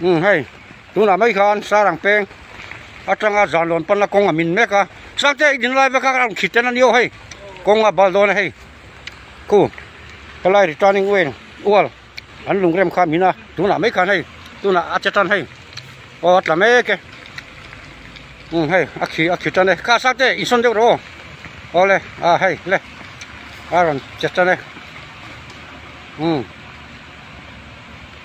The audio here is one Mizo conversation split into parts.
Hei tunah mai khan sarang peng atanga zan lawn panna kawng a min mek a changte i dinlai veka ka rawn khiten a ni aw hei kawnga bal dawn a hei khu helai returning way ual an lungrem kha min a tunah mai khan hei tunah a che tan hei aw a tla mek e um hei a khi a khi tan e kha sate insawn deuh rawh aw ole a hei le a rawn che tan e um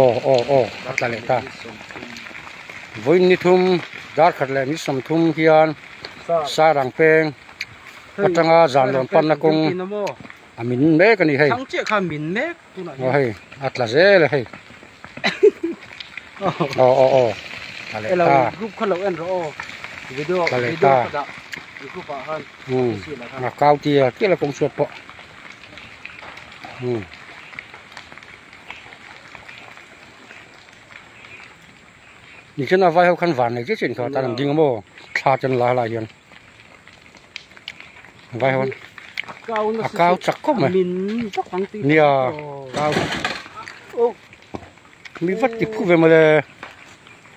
Aw aw aw a tla leh ta. Vawiin ni thum darkhat leh ni sawmthum hian sarang peng atanga zanlawn panna kawng a min mek a ni hei aw hei a tla zel a hei aw aw aw tla leh ta tla leh ta a kau tir tir a kawng chhuat pawh. inchung a vai ho khan vannei chiah chiah in khuh a tan an ding a maw thla a chen la a lah hian vai ho a kau chak khawp mai nia kau mi vat ti phu ve mawle.